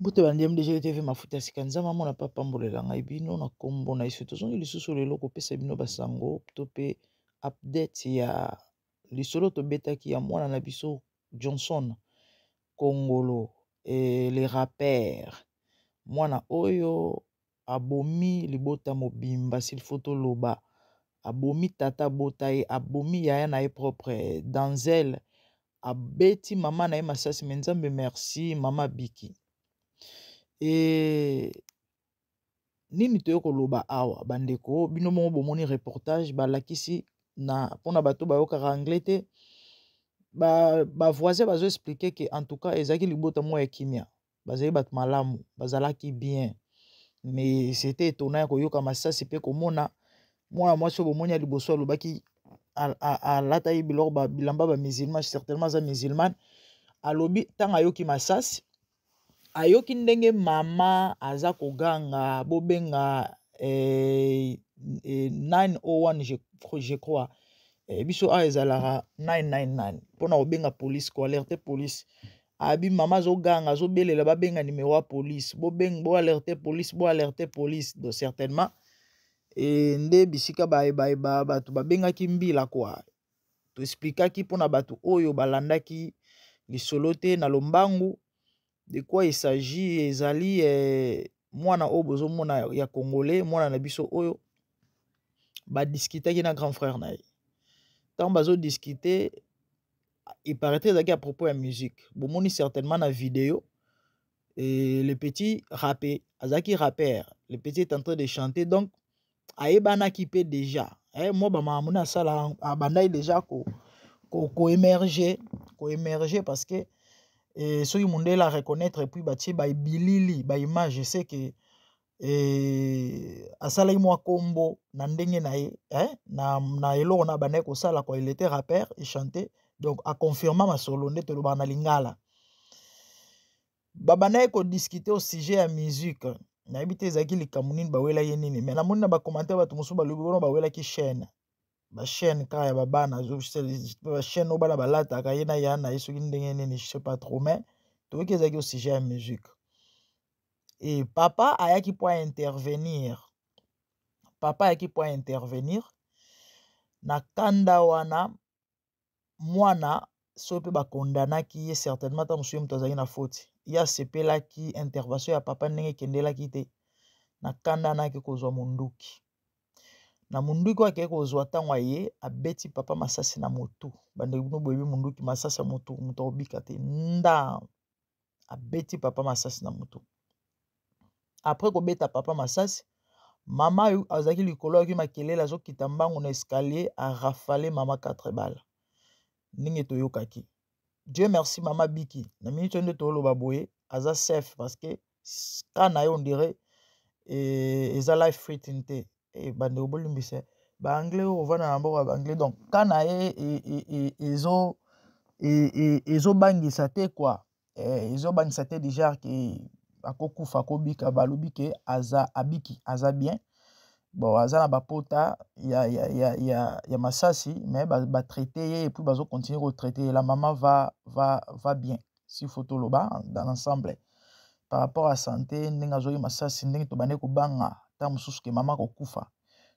mbote bandi mdgl tv mafuta ya sika nzambe amona mpe apambolela ngai bino na nkombo na yesu tozongi lisusu lelo kopesa bino basango to mpe update ya lisolo tobetaki ya mwana na biso johnson kongolo eh, le rapper mwana oyo abomi libota mobimba silfo toloba abomi tata abota ye abomi yaya na ye propre danzel abeti mama na ye masasi me nzambe merci mama biki e nini toye koloba awa bandeko bino moko bomoni reportage balakisi na mpona bato bayokaka anglais te bavoisin ba bazoexplike ke en tout cas ezalaki libota moko ya kimia bazali bato malamu bazalaki bien mais c'était étonnant ya koyoka masasi mpe komona mwana mwasi oyo bomoni ya liboso alobaki alataki biloko bilamba ba musulman certainement aza musulmane alobi ntango ayoki masasi ayoki ndenge mama aza koganga bobenga eh, eh, 901 je, je crois eh, biso awa ezalaka 999 mpona kobenga police koalerte police abi mama azoganga azobelela babenga numero ya police bobeng bo alerte police bo alerte police donc certainement e, nde bisika bayebayeba bato babengaki mbila kua toesplikaki mpo na bato oyo balandaki lisolo te na lombangu de quoi il s'agit ezali eh, mwana oyo bozomona ya congolais mwana na biso oyo badiskitaki na grand frère na ye ntango bazodiskite il paraît ezalaki à propos ya musique bomoni certainement na video et le petit rappé azalaki rapper le petit est en train de chanter donc ayebanaki mpe déjà eh, mwa bamakambo na asala abandaki déjà ko koemerge koemerge parce que eh, soki mondele a reconnaître epuis batie baibilili baimage se ke e, asalaki mwa kombo na ndenge na ye eh, na, na eloko na bandaki kosala kwa il était rappeur e chante donc aconfirma masolo nde tolobaka na lingala babandaki kodiskute au sujet ya musique nayebi te ezalaki likambo nini bawelaki nini mai namoni na bacommentaire bato mosusu balobi wana bawelaki chaîne bachaîne kaka ya babana bachaîne oyo bana balataka ye na ya na ye soki ndenge nini je sais pas trop mais toyoki ezalaki au sujet ya musique e papa ayaki mpo intervenir papa ayaki mpo intervenir na kanda wana mwana soki mpe bakondanaki ye certainement ntango mosusu ye moto azalaki na foti ye asepelaki intervention ya papa ndenge ekendelaki te na kanda anaki kozwa monduki na monduki oyo akei kozwa ntango aye abeti papa masasi na motu bandeko bino boyebi monduki masasi ya motu moto akobika te nda abeti papa masasi na motu après kobeta papa masasi mama oyo azalaki likolo ayaki makelele azokita mbangu na escalier arafale mama 4 bala ndenge toyokaki dieu merci mama biki na miniti oyo nde tooloba boye aza safe parce que ka na ye ondire eh, eza life fritin te eh, bandeko bolimbisa baanglais oyo kovanda na mboka ya baanglais donc ka na ye e, e, e, ezo ezobangisa te kua ezobangisa eh, te deja ke akokufa akobika balobi ke aza abiki aza bien bon aza na bapota ya, ya, ya, ya, ya masasi mais batraite ba ye epuis bazokontinue kotraite ye la mama va, va, va bien si faut toloba dans l'ensemble par rapport à santé ndenge azwaki masasi ndenge tobandaki kobanga ntango mosusu ke mama akokufa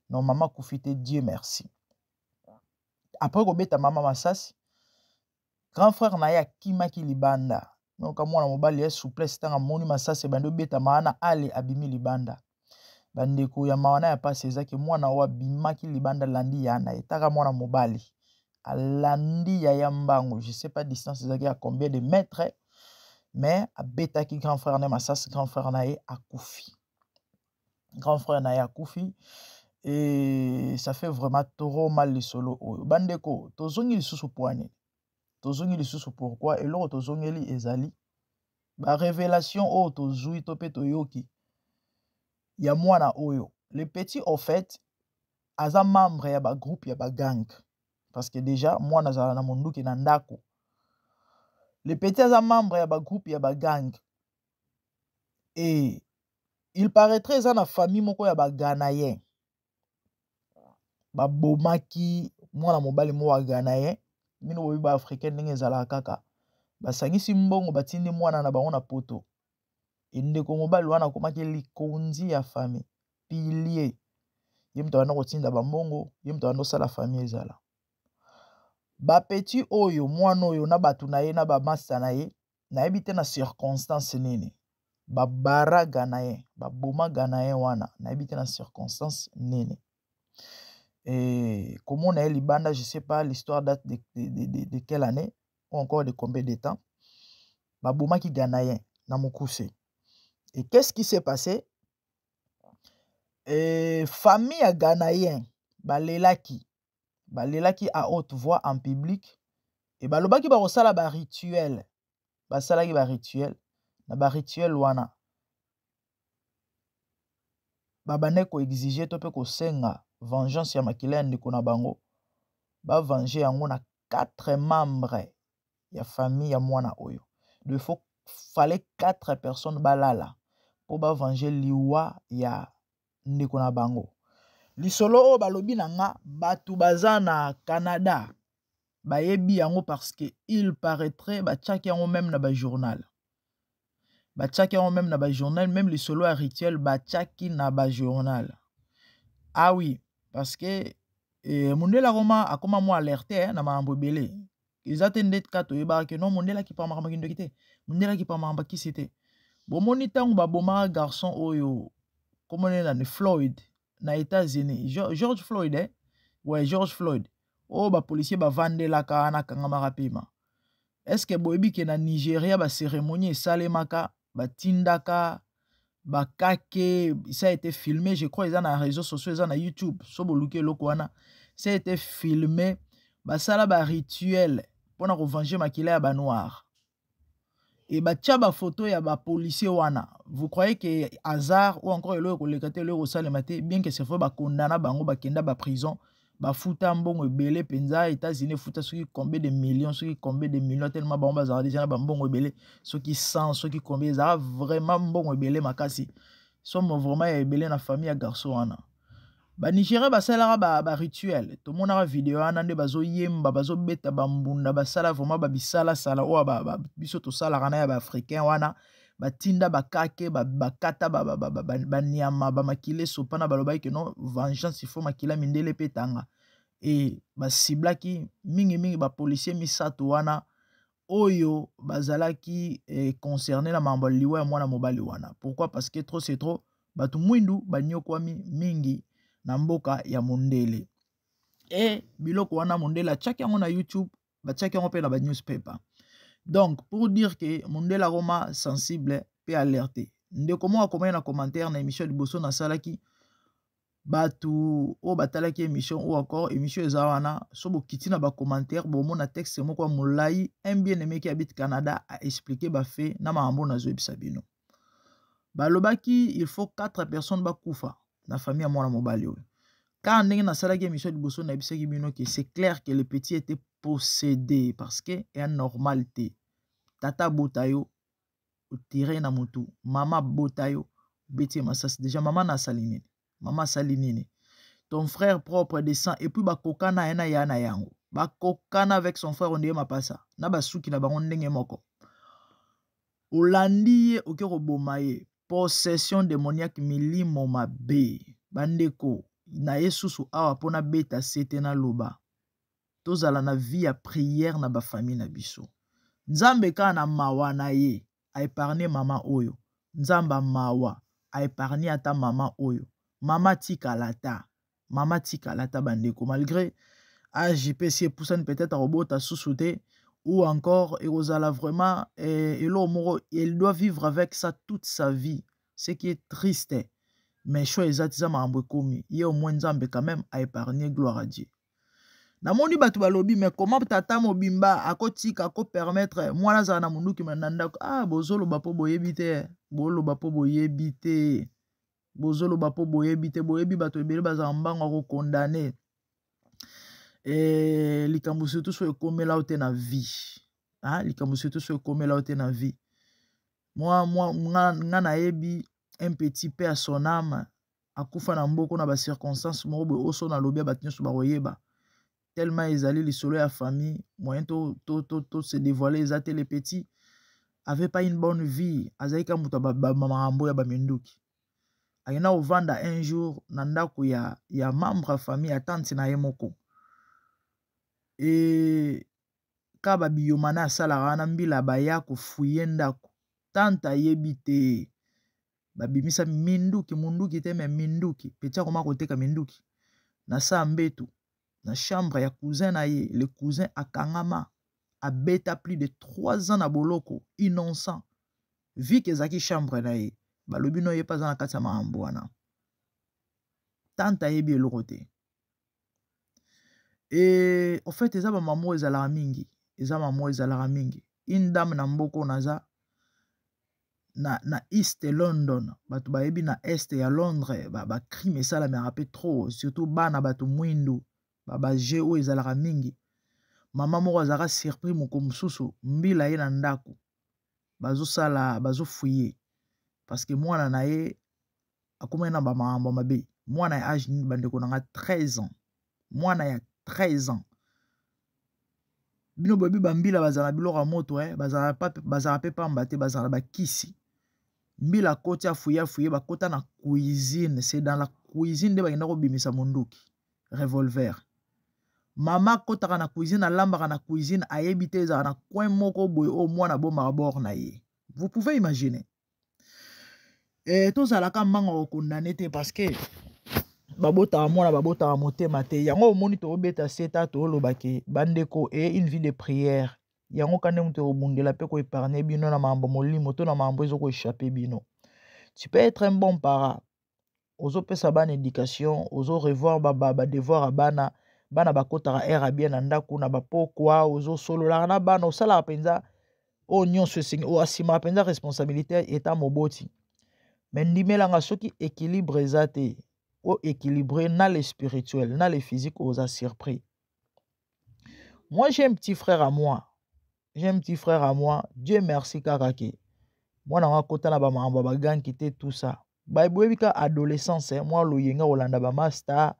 no mama akufi te dieu merci après kobeta mama masasi grand frère na ye akimaki libanda noka mwana mobali ya souplesse ntango amoni masasi ebandi obetama wana ale abimi libanda bandeko ya mawa na ya mpasi eza ke mwana oyo abimaki libanda alandi ya na ye taka mwana mobali alandi ya ya mbango je sais pas distance ezalaki ya combien de mètre mais abetaki grand frère na ye masasi grand frère na ye akufi grand frère na ye akufi e ça fait vraiment trop mal lisolo oyo bandeko tozongi lisusu poani tozongi lisusu pourkui eloko tozongeli ezali barevelation oyo tozwi to mpe toyoki ya mwana oyo le petit au fait aza membre ya bagroupe ya bagang parce que déjà mwana azala na monduki na ndako le petit aza membre ya bagroupe ya bagang e il paraîtrait eza na famille moko ya baganayen babomaki mwana mobali moko ya ganayen bino boyebi ba africain ndenge ezalaka kaka basangisi mbongo batindi mwana na bango na poto endeko mobali wana akomaki likonzi ya famille pilie ye moto abanda kotinda bambongo ye moto abanda osala famille ezala bapeti oyo mwana oyo na bato na ye na bamasta na ye nayebi te na circonstance nini babara ganayen baboma ganayen wana nayebi te na circonstance nini e, komona ye libanda je sais pas l'histoire date de, de, de, de, de quelle année ou encore de combien de temps babomaki ganayen na mokuse et qu'est ce qui s'est passé e, famille ya ganayen balelaki balelaki à haute voix en public e balobaki bakosala barituel basalaki barituel na barituel wana babandaki koexige to mpe kosenga vengeance ya makila ya ndeko na bango bavenge yango na 4 membre ya famille ya mwana oyo de faut fallait 4 personnes balala mpo bavenge liwa ya ndeko na bango lisolo oyo balobi na nga bato baza na canada bayebi yango parce que il paraîtrait batiaki yango meme na bajournal batiaki yango meme na bajournal meme lisolo ya rituel batiaki na bajournal ah oui parce que eh, mundela akoma akoma mo alerte eh, na makambo ebele eza te nde ka toyebaka ke non mondele akipamaka makindoki te mondele akipamaka bakisi te bomoni ntango babomaka garçon oyo komone nani floyd na états-unis george floyd eh? we george floyd oyo bapolisier bavandelaka wana akangamaka mpema estce boyebi ke na nigeria baceremonie esalemaka batindaka bakake ça a été filmé je crois eza na réseaux sociaux eza na youtube so boluki eloko wana ça a été filmé basala barituel mpo na kovange makila ya banoir e batya bafoto ya bapolicier wana vous croyez ke hasard ou encore eloko ekoleka te eloko ekosalema te bien ke c'est vrai bakondana bango bakenda baprison ba bafuta mbongo ebele mpenza états-unis efuta soki combien de millions soki combien de millions tellement bango bazala deja na bambongo ebele soki 100 soki combien ezala vraiment mbongo ebele makasi somo vraiment ya ebele na famille ya garçon wana banigérien basalelaka barituel ba, ba tomonaka video wana nde bazoyemba bazobeta bambunda basala vraiment babisalasala oyo ba, ba, biso tosalaka na ya baafricain wana ba batinda bakake bakata banyama bamakila esopana balobaki ke non vengeance ifo makila mindele mpe etanga e basiblaki mingimingi bapolisier misato wana oyo bazalaki eh, concerne na mambo ya liwa ya mwana mobali wana pourquoi parce que trop c'est trop bato mwindu banyokwami mingi na mboka ya mondele e biloko wana mondele atyaki yango na youtube batiaki yango mpe na banewspaper donc pour dire ke mondele akoma sensible mpe alerte ndeko moko akomaki na commentaire na émission liboso nasalaki bato oyo batalaki émission oyo encore émission eza wana so bokiti na bacommentaire bomona texte moko ya molai un bien aimé qui habite canada a expliqué bafe na makambo nazoyebisa bino balobaki il faut 4 personnes bakufa na famille ya mwana mobali oyo car ndenge nasalaki émission liboso nayebisaki bino ke c'est clair que le petit était possédé parce que ya normal te tata abota yo otire na motu mama abota yo obeti ye masasi deja mama na asali nini mama asali nini ton frère propre de sang et puis bakokana ye na ya na yango bakokana avec son frère ondeye mapasa na basuki na bango ndenge moko olandi ye oke koboma ye possession demoniaque milimo mabe bandeko na ye susu awa mpo nabeta sete naloba tozala na vie ya prière na bafamille na biso nzambe kaka na mawa na ye a epargne mama oyo nzamba mawa a epargne ata mama oyo mama tikala ta mama tikala ta bandeko malgré age mpe si epusani peut-être akobota susu te ou encore ekozala vraiment eh, eloko moko elle doit vivre avec ça toute sa vie ce qui est triste mais choix eza ti eza makambo ekomi ye omoi nzambe quand même a epargne gloire à dieu namoni bato balobi me koma tata mobimba akotika akopermetre mwana azala na monduki na ndako a ah, bozoloba mpo boyebi te boloba mpo boyebi te bozoloba mpo boyebi te boyebi bato ebele bazala mbango akokondane e, eh, likambo surtout so ekomela yo te na vie ah, likambo surtout so ekomela yo te na vie mwa mwa nga nayebi un petit paix à son âme akufa na mboko na bacirconstance moko boye oso na lobi ya bato nyonso bakoyeba tellement ezali lisolo ya famille moyen to, to, to, to se dévoile eza te le petit avait pas une bonne vie azalaki ka moto makambo ya baminduki akenda kovanda un jour na ndako ya, ya membre ya famille ya tante na ye moko e ka ba biyomana asalaka wana mbila baya kofuye ndako tante ayebi te babimisa minduki munduki te me minduki peti akoma koteka minduki na saa mbetu na chambre ya cousin na ye le cousin akangama abeta plus de 3 ans na boloko innocent vike ezalaki chambre na ye balobi no ye mpe aza na kati ya makambo wana tante ayebi eloko te e au fait eza ba maman ezalaka mingi eza maman ezalaka mingi une dame na mboka oyo naza na, na east london bato bayebi na est ya londres bacrime ba esalamaka mpe trop surtout bana bato mwindu babaje oyo ezalaka mingi mama moko azalaka surpris moko mosusu mbila ye na ndako bazosala bazofuye parceke mwana na ye akomaki na bamakambo ya mabe mwana ya age nini bandeko na nga 13 ans mwana ya 13 ans bino boyebi bambila bazala na biloko ya moto eh? bazala mpe pamba te bazala bakisi mbila akoti afuye afuye bakota na cuisine se dans la cuisine nde bakenda kobimisa monduki revolver mama akotaka na cuisine alambaka na cuisine ayebi te ezalaka na coin moko boye oyo mwana abomaka bor na ye vous pouvez imaginer eh, tozalaka mbanga kokondane te parce que babotaka mwana babotaka motema te yango omoni toobeta seta tooloba ke bandeko e une vie de prière yango ka ndenge tokobundela mpe koepargne bino na mambo molimo to na mambo ezokoechappe bino tu peux être un bon para ozopesa bana education ozo revoir ba, ba, ba devoir ya bana bana bakotaka aire ya bien na ndako na bapokwa ozosololaka na bana osalaka mpenza oyo nyonso esengi oyo asimaka mpenza responsabilité eta moboti me ndimelanga soki équilibre eza te o équilibre na le spirituel na le physique oza surpris moi j'ai un petit frère à moi j'ai un petit frère à moi dieu merci kaka ke mwana yango akota na bamakambo ya baganki te tout ça boyebi ka adolescence eh, mwa loyenga kolanda bamasta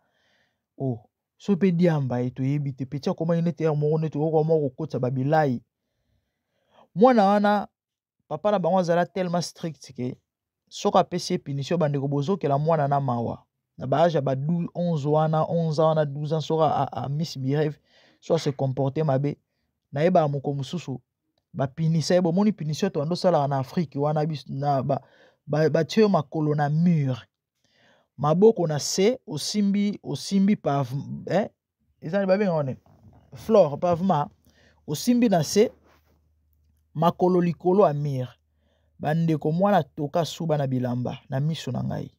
o oh, so mpe diamba ye eh, toyebi te peti akomaki nete yare moko nete okoka moko kokotisa babilai mwana wana papa na bango azala tellement strict ke soki apesi ye punition bandeko bozokela mwana na mawa na baage ya ba 11 wana 11 wana 12 ans soki amisi bireve so ase comporte mabe nayebaka moko mosusu bapinisa ye bomoni punition toyanda osalaka na afrike wana batye yo makolo na mur maboko na se osimbi osimbi pa eh, eza babenga wana flore pavement osimbi na se makolo likolo ya mire bandeko mwana atoka suba na bilamba na miso na ngai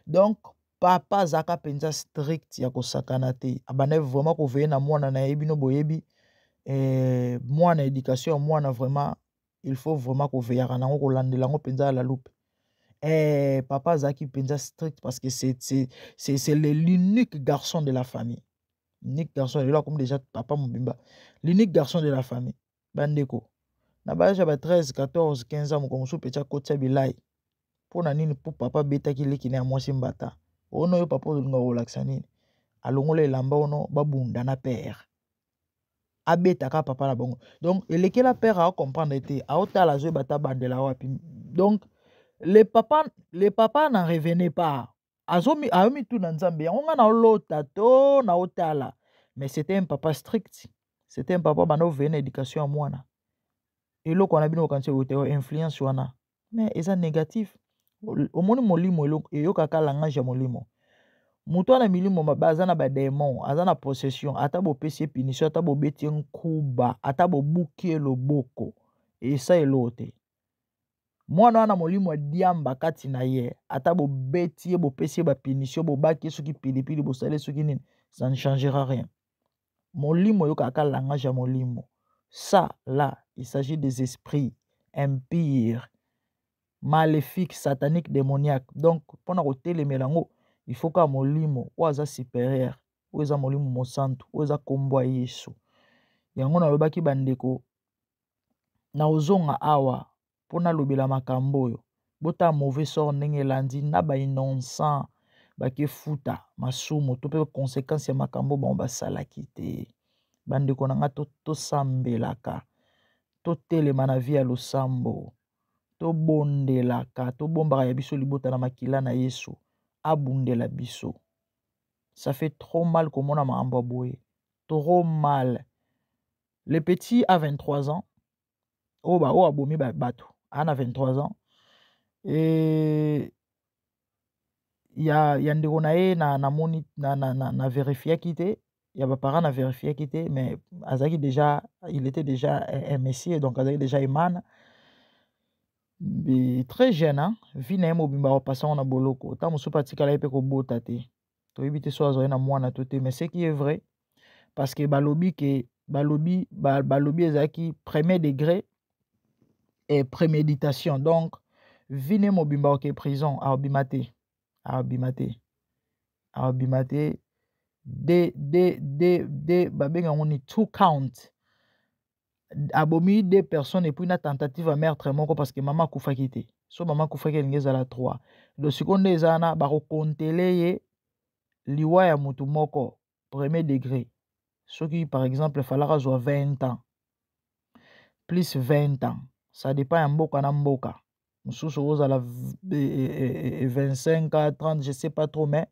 donk papa azalaka mpenza strict ya kosakana te abandaki vraiment koveye na mwana na ye bino boyebi eh, mwana education ya mwana vraiment il faut vraiment koveyaka nango kolandela yango mpenza ya la loupe eh, papa azalaki mpenza strict parce que c'est l'unique garçon de la famille unique garçon lelo akomi déjà papa mobimba l'unique garçon de la famille bandeko na baage ya ba 13 14 15 ans mokolo mosusu peti akotisa bilai mpo na nini mpo papa abetaki leki na ya mwasi mbata ono yo papa ozolinga kolakisa nini alongola elamba ono babunda na pere abeta kaka papa na bango donc elekela père aocomprendre te aotala azoyeba ata bandela wapi donc le papa le papa na revenait pas azomi ayomituna nzambe yango ngai naolota to naotala mais c'était un papa strict c'était un papa banda oveye na éducation ya mwana eloko wana bino okanisi oyo te influence wana mais eza négatif omoni molimo eyokaka langage ya molimo moto wana milimo mabe aza na bademon aza na possession ata bopesi ye punition ata bobeti ye nkuba ata bobuki ye loboko esa eloo te mwana wana molimo ya diamba kati na ye ata bobeti ye bopesi ye bapunition bobaki ye soki pilipili bosali ye soki nini ça ne changera rien molimo oyokaka ka langage ya molimo ça là il s'agit des esprits impire maléfique satanique démoniaque donc mpo na kotelemela yango il faut kaka molimo oyo aza supérieur oyo eza molimo mosantu oyo eza nkombo ya yesu yango nalobaki bandeko nakozonga awa mpo nalobela makambo oyo bota mauvais sort ndenge elandi na ba innocent bakefuta masumu to mpe conséquence ya makambo bango basalaki te bandeko na ngai tosambelaka totelema na vi ya losambo tobondelaka tobombaka ya biso libota na makila na yesu abundela biso ça fait trop mal komona makambo ya boye trop mal le petit a 23 ans oyo ba oyo abomi bato ana 23 ans e, ya, ya ndeko na ye na, na, moni, na, na, na, na verifiaki te ya baparent na verifiaki te mais azalaki déjà il était déjà un messier donc azalaki déjà emana très jeune hein? vie na ye mobimba apasango na boloko ntango mosusu mpe atikala ye mpe kobota te toyebi te so azali na mwana to te mais ce qui est vrai parce que balobi ke balobi ba, balobi ezalaki premier degré et préméditation donc vi ne mobimba oke prison aobima te aobima te aobima te de de de de babenga yango ni two count abomi deux personnes epuis na tentative ya meurtre moko parce que mama akufaki te so mama akufaki elingi ezala trois do sikoyo nde eza wana bakokontele ye liwa ya motu moko premier degré soki par exemple falaka azwa 20 ans plus 20 ans ça dépend ya mboka na mboka mosusu okozala 25 a 30 je sais pas trop mais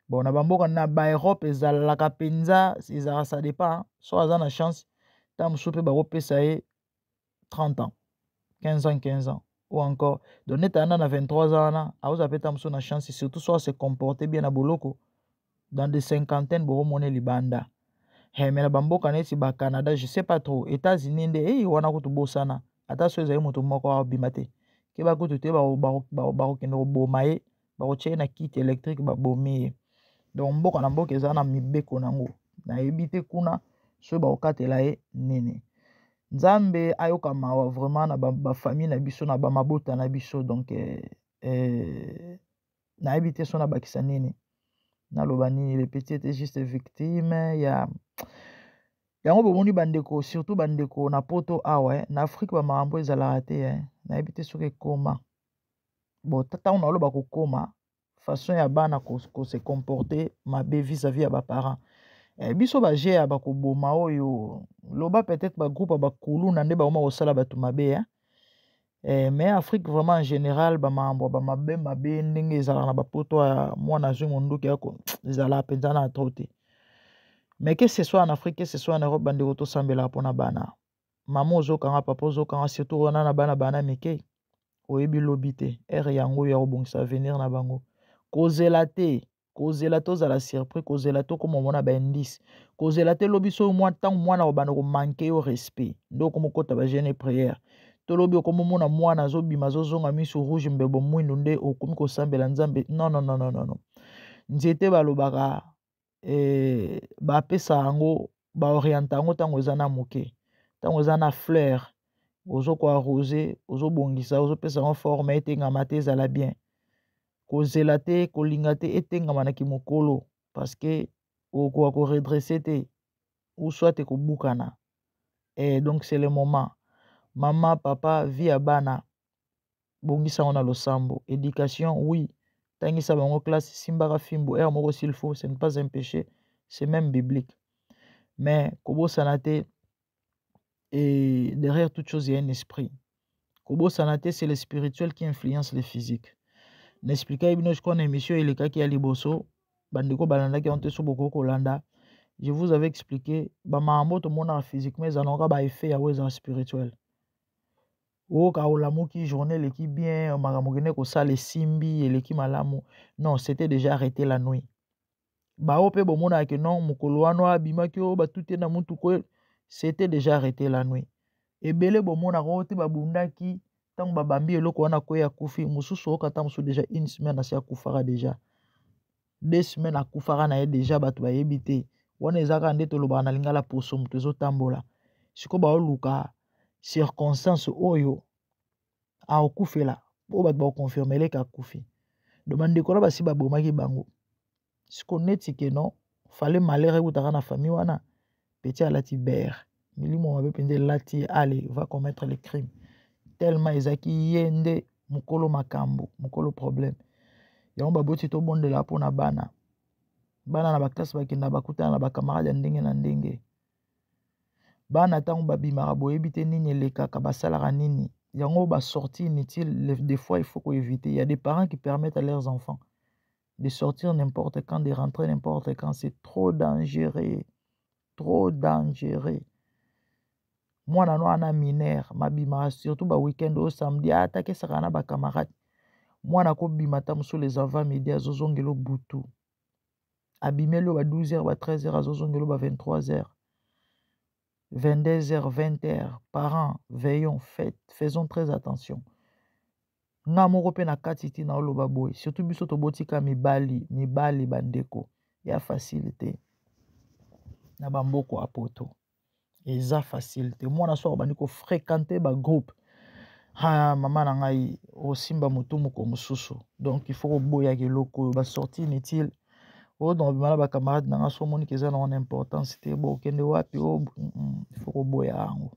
bon na bamboka na baeurope ezalaka mpenza ezalaka ça dépend so aza na chance ntango mosusu mpe bakopesa ye 30 ans 15 ans 15 ans ou encore donc neti ana na 23 ans wana akozala mpe ntango mosusu na chance surtout so ase comporte bien na boloko dans des cinquantaines bokomona libanda hey, me na bamboka neti ba canada je sais pas trop états-unis nde hey, wana kutu bosana ata so ezali moto moko abima te keba kutu te bakokende koboma ye bakotya ye na kite électrique babomi ye donc mboka na mboka eza na mibeko nango nayebi te kuna soki bakokatela ye nini nzambe ayoka mawa vraiment na bafamille na biso na bamabota na biso donc eh, eh, nayebi te so nabakisa nini naloba nini le petit était juste victime ya yango bomoni bandeko surtout bandeko na poto awa eh, na afrike bamakambo ezalaka te eh, nayebi te soki ekoma bon ntango naloba kokoma façon ya bana ko, ko se comporter mabe vis-à-vis ya baparent eh, biso baje ya bakoboma oyo loba peut-être bagroupe ya bakuluna nde bakoma kosala bato mabe eh? Eh, mais Afrique vraiment en général ba mambo ba mabe mabe ndenge ezalaka na bapoto ya mwana azwi monduki yako ezalaka mpenza na trop te mais que ce soit en Afrique que ce soit en Europe bandeko tosambelaka mpo na bana mama ozokanga papa ozokanga surtout wana na bana bana mike oyebi lobi te ere yango oyo ya kobongisa avenir na bango kozela te kozela tozala surpris kozela tokoma omona baindice kozela te lobi soki mwa ntango mwana obanda komanke yo respect nde okoma okota bajeune e prière to lobi okoma omona mwana azobima azozonga miso rouge mbebo mwindu nde okomi kosambela nzambe non non non non non nzete balobaka eh, bapesa yango baorienta yango ntango eza na moke ntango eza na fleur ozokoarrose ozobongisa ozopesa yango forme etengama te ezala bien kozela te kolinga te etengama na kimokolo parce que okoka koredresse te ou soit ekobukana eh, donc c'est le moment mama papa vie ya bana bongisa yango na losambo éducation oui tangisa bango classe simbaka fimbo heure moko s'il faut ce n'est pas un péché c'est même biblique mais kobosana te et derrière toute chose il y a un esprit kobosana te c'est le spirituel qui influence le physique naexplikaki bino sikoyo na émission elekaki ya liboso bandeko balandaki yango te so bokoki kolanda je vous avais expliqué bamambo tomonaka physiquement ezalaka ba effet yango ezala spirituel oyoka olamuki journée eleki bien makambo okende kosala esimbi eleki malamu non c'était déjà arrêté la nuit baoyo mpe bomonaka ke non mokolo wana abimaki oyo batute na motuku oyo c'était déjà arrêté la nuit ebele bomonaka oyo te babundaki ntango babambi eloko wana kwe akufi mosusu oyoka ntango mosusu déjà une semaine asi akufaka déjà deux semaines akufaka na ye déjà bato bayebi te wana ezalaka nde tolobaka na lingala poso moto ezotambola sikoyo baoluka circonstance oyo akokufela oyo bato bakoconfirme eleka akufi do bandeko na basi babomaki bango siko neti keno fale malere ekutaka na famille wana peti alati bere milimo mabe mpenza elati ye ale va commettre le crime tellement ezalaki ye nde mokolo makambo mokolo problème yango baboti tobondela mpo na bana bana na baklase bakenda bakutana na bacamarade ya ndenge na ndenge bana ntango babimaka boyebi te nini elekaka basalaka nini yango ba sortie inutile des fois il faut ko éviter il y a des parents qui permettent à leurs enfants de sortir n'importe quand de rentrer n'importe quand c'est trop dangereux trop dangereux mwana no ana mineur mabimaka surtout ba week-end oyo samedi atakesaka na bacamarade mwana akobima ata mosolo eza 20 midi azozongela butu abimeli oyo ba 12 heures ba 13 heures azozongeli oyo ba 23 heures 22 heures 20 heures parents veillons faites faisons très attention nga moko mpe na kati ti na oloba boye surtout biso tobotika mibali mibali bandeko ya facilité na bamboko ya poto eza facile te mwana soki obandi kofréquente bagroupe ha mama na ngai osimba motu moko mosusu donc il faut koboyaka eloko oyo basorti inutile oyo donc obima na bacamarade na ngai so omoni ke eza na wana importance te bo okende wapi o oh, mm, mm, il faut koboya yango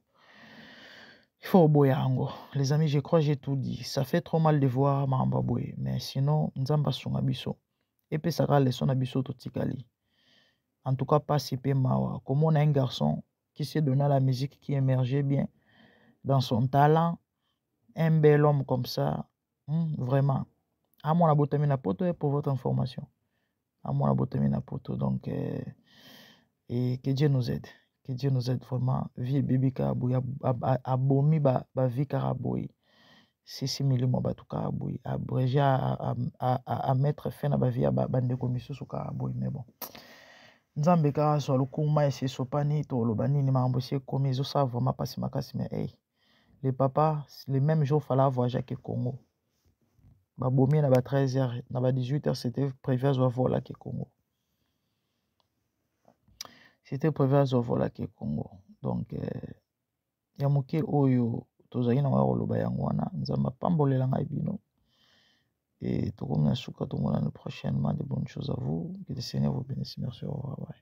il faut koboya yango les amis je crois j'ai tout dit ça fait trop mal de voir makambo ya boye mais sinon nzambe asunga biso epesaka leson na biso totikali en tout cas pasi mpe mawa komona un garçon qui se donna la musique qui émergeait bien dans son talent un bel homme comme ça hmm, vraiment amwana ah, botami na poto eh, pour votre information amwana ah, botami na poto donc euh, et que Dieu nous aide que Dieu nous aide vraiment vie ebebi kaka boye abomi bavie kaka boye sisi milimo ya bato kaka boye abrege amettre fin na bavie ya bandeko misusu kaka boye mais bon nzambe kaka azwa lokumu mai esi esopani toloba nini makambo esi ekomi ezosala vraiment mpasi makasi mais ey le papa le même jour fala avoir jacke congo babomi ye na ba 13 heures na ba 18 heures c'était prévu azwa volake congo c'était prévu azwa volaki congo donc euh, ya moke oyo tozali na ya koloba yango wana nzambe apambolela ngai bino e tokomi na suka tomonani prochainement de bonne chose à vous que le seigneur vous bénisse merci au revoir bye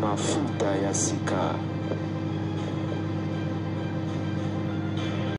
mafuta ya sika.